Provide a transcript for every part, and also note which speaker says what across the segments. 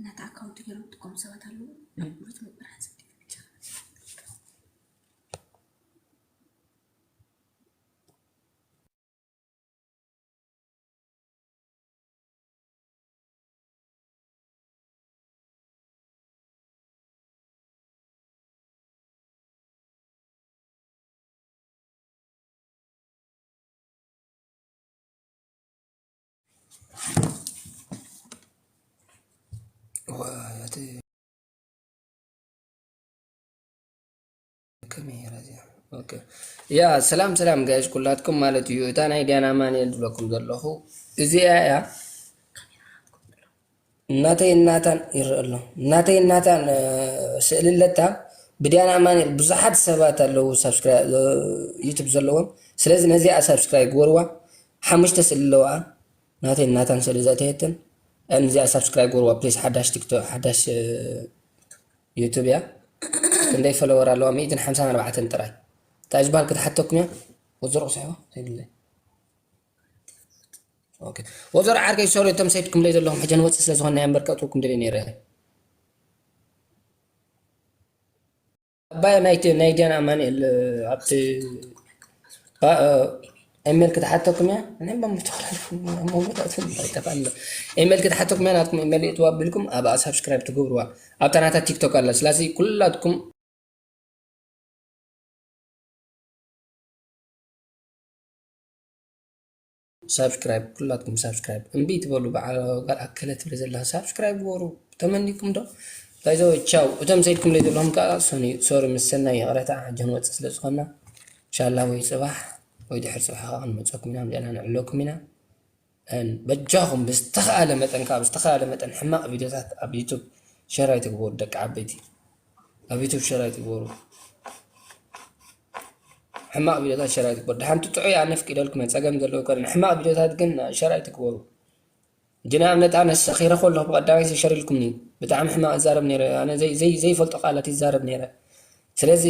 Speaker 1: ነቲ ኣካውንት ገይሮም ዝጥቀሙ ሰባት ኣለዉ። ናይ ብሉጽ ምብራህ ጽሑፍ ብቻ
Speaker 2: ያ ሰላም ሰላም ጋይሽ ኩላትኩም ማለት እዩ እታ ናይ ዲያና ማንኤል ዝብለኩም ዘለኹ እዚኣ እያ ናተይ ናታን ይረኣ ኣሎ። ናተይ ናታን ስእሊ ኣለካ ብድያን ኣማኒኤል ብዙሓት ሰባት ኣለዉ ሳብስክራይ ዩቱብ ዘለዎም ስለዚ ነዚኣ ሳብስክራይ ግበርዋ ሓሙሽተ ስእሊ ኣለዋኣ ናተይ ናታን ስእሊ ዘእተየትን ነዚኣ ሳብስክራይ ግበርዋ ፕሊስ ሓዳሽ ቲክቶክ ሓዳሽ ዩቱብ እያ ክንደይ ፈለወር ኣለዋ ሚእትን ሓምሳን ኣርባዕተን ጥራይ እንታይ ዝበሃል ክትሓተኩም እያ ወዘሮ ቁስሕቦ ዘይብለይ ኦኬ ወዘሮ ዓርከይ ሶሪ እቶም ሰድኩምለይ ዘለኹም ሕጂ ንወፅእ ስለ ዝኾንና እምበር ከእትወኩም ደልየ ነይረ ኣባይ ናይቲ ናይ ዲያን ኣማኒኤል ኣብቲ ኢሜል ክትሓተኩም እያ እኔም በምተክላልኩ መወዳቱ ይጠፋል ኢሜል ክትሓተኩም እያ ናትኩም ኢሜል እትዋ ቢልኩም ኣብኣ ሳብስክራይብ ትገብርዋ ኣብታ ናታ ቲክቶክ ኣላ ስለዚ ኩላትኩም ሳብስክራይብ ኩላትኩም ሳብስክራይብ እምቢ ትበሉ በዓል ጋል ኣከለ ትብል ዘላ ሳብስክራይብ ግበሩ ተመኒኩም ዶ ባይዘወ ቻው እቶም ሰይድኩምለይ ዘለኹም ከዓ ሶሪ ምስ ሰናይ ይቕረታ ሕጂ ንወፅእ ስለ ዝኾና ኢንሻላ ወይ ፅባሕ ወይ ድሕሪ ፅባሕ ከዓ ክንመፀኩም ኢና ምፅና ንዕለኩም ኢና and በጃኹም ብዝተኻኣለ መጠን ካኣ ብዝተኻኣለ መጠን ሕማቕ ቪድዮታት ኣብ ዩቱብ ሸር ኣይትግበሩ ደቂ ዓበይቲ ኣብ ዩቱብ ሸር ኣይትግበሩ ሕማቕ ቪድዮታት ሸር ኣይትግበሩ ደሓን ትጥዑ እያ ነፍቂደልኩም እየ ጸገም ዘለዎ ከ ሕማቕ ቪድዮታት ግን ሸር ኣይትግበሩ እንጂ ንኣብነት ኣነ ሰኺረ ከለኹ ብቐዳማይ ሸር ኢልኩምኒ ብጣዕሚ ሕማቕ ይዛረብ ነይረ ኣነ ዘይፈልጦ ቃላት ይዛረብ ነይረ ስለዚ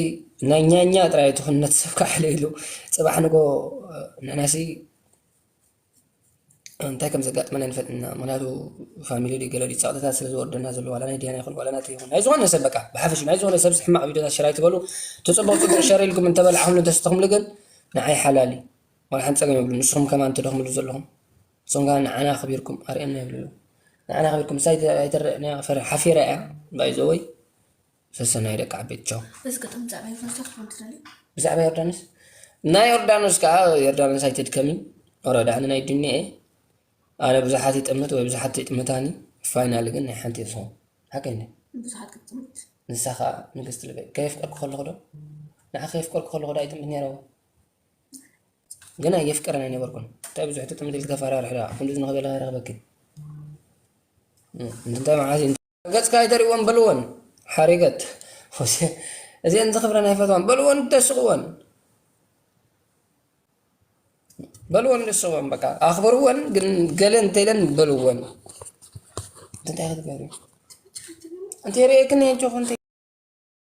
Speaker 2: ናይ ኛኛ ጥራይ ትኹን ነቲ ሰብ ካሕለ ኢሉ ጽባሕ ንጎ ንሕናሲ እንታይ ከም ዘጋጥመና ንፈልጥና ምክንያቱ ፋሚሊ ድዩ ገለ ድዩ ፀቕጥታት ስለ ዝወርደና ዘሎ ዋላ ናይ ድያና ይኹን ዋላ ናተይ ይኹን ናይ ዝኾነ ሰብ በቃ ብሓፈሽ ናይ ዝኾነ ሰብ ሕማቕ ቪድዮታት ሸር ኣይትበሉ እቲ ፅቡቕ ፅቡቕ ሸር ኢልኩም እንተበላዕኹምሉ እንተሰተኹምሉ ግን ንዓይ ሓላል እዩ ዋላ ሓንቲ ፀገም የብሉ ንስኹም ከማን ትደኽምሉ ዘለኹም ንስኹም ከዓ ንዓና ኣኽቢርኩም ኣርእየና ይብሉ ንዓና ኣኽቢርኩም ምሳይ ኣይተረአና ሓፊራ እያ ባይዘወይ ሰሰናዩ ደቂ ዓበይቲ ቻው እዚ
Speaker 1: ግጥም ብዛዕባ ዮርዳኖስ ዶ ክትብል
Speaker 2: ትደሊ ብዛዕባ ዮርዳኖስ እና ዮርዳኖስ ከዓ ዮርዳኖስ ኣይትድከሚ ኦሮ ዳዕኒ ናይ ዱኒያ እየ ኣነ ብዙሓት ይጥምት ወይ ብዙሓት ይጥምታኒ ፋይናል ግን ናይ ሓንቲ ይኸውን ሓቀኛ ብዙሓት ክትጥምት
Speaker 1: ንሳ ከዓ
Speaker 2: ንግስቲ ልበይ ከየፍቀርኩ ከለኹ ዶ ንዓ ከየፍቀርኩ ከለኹ ዶ ኣይጥምት ነይረዎ ግን ኣየፍቀረን ኣይነበርኩን እንታይ ብዙሕ ትጥምት ኢልቲ ከፈራርሕ ዳ ክንዲ ዝንኸበለ ከረኽበኪ እንታይ መዓዝ ገጽካ ኣይተርእይወን በልወን ሓሪገት ፎስየ እዚኤን ዝኽብረን ኣይፈትዋን በልወን ደስቕወን በልወን ደስቕወን በቃ ኣኽብርወን ግን ገለ እንተኢለን በልወን እንታይ ክትገብሪ እንተ ርእየክኒ ኣጆኹ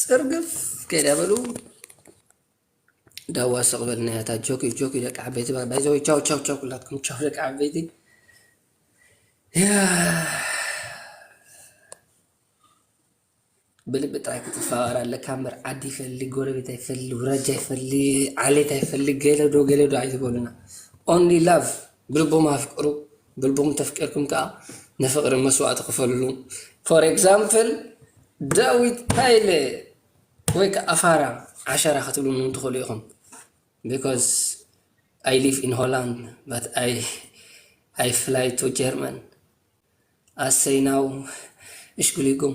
Speaker 2: ፅርግፍ ከይዳ በሉ ዳዋ ስቕ በልና ያታ ጆኪ ጆኪ ደቂ ዓበይቲ ባይዘወ ቻው ቻው ቻው ኩላትኩም ቻው ደቂ ዓበይቲ ብልቢ ጥራይ ክትፈቃር ኣለካ እምበር ዓዲ ይፈሊ ጎረቤት ኣይፈሊ ውራጃ ይፈሊ ዓሌት ኣይፈሊ ገለዶ ገለዶ ኣይትበሉና ኦንሊ ላቭ ብልቦም ኣፍቅሩ ብልብኹም ተፍቂርኩም ከኣ ንፍቕሪ መስዋእቲ ክፈልሉ። ፎር ኤግዛምፕል ዳዊት ሃይለ ወይ ከኣ ፋራ ዓሸራ ክትብሉኒ ውን ትኽእሉ ኢኹም ቢኮዝ ኣይ ሊቭ ኢን ሆላንድ በት ኣይ ፍላይ ቱ ጀርመን ኣሰይ ናው እሽግሊጉም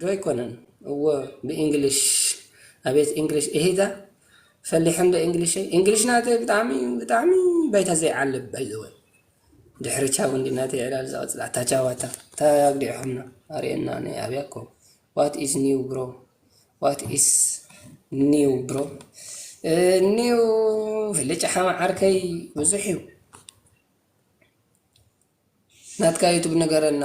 Speaker 2: ዶ ኣይኮነን እዎ ብእንግሊሽ ኣቤት እንግሊሽ እሂታ ፈሊሐ እንዶ እንግሊሸይ እንግሊሽ ናተይ ብጣዕሚ ብጣዕሚ ባይታ ዘይዓልብ ባይዘወይ ድሕሪ ቻው እንዲ ናተይ ዕላል ዝቐፅል ኣታ ቻው ኣታ እንታይ ኣግዲዕኹምና ኣርእየና ናይ ኣብያ እኮ ዋት ኢዝ ኒው ብሮ ዋት ኢዝ ኒው ብሮ ኒው ፍልጭ ሓማ ዓርከይ ብዙሕ እዩ ናትካ ዩቱብ ንገረና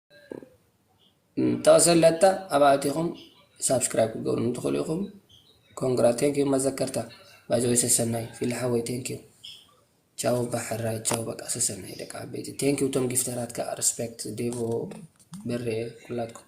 Speaker 2: ጠቕሰለታ ኣብ ኣእቲኹም ሳብስክራይብ ክትገብሩ ትኽእሉ ኢኹም ኮንግራ ቴንኪዩ መዘከርታ ባይዘወይ ሰሰናይ ፊሊ ሓወይ ቴንኪዩ ቻው ባሕራይ ቻው በቃ ሰሰናይ ደቂ ዓበይቲ ቴንኪዩ እቶም ጊፍተራት ከዓ ሪስፔክት ዴቮ በሬ ኩላትኩም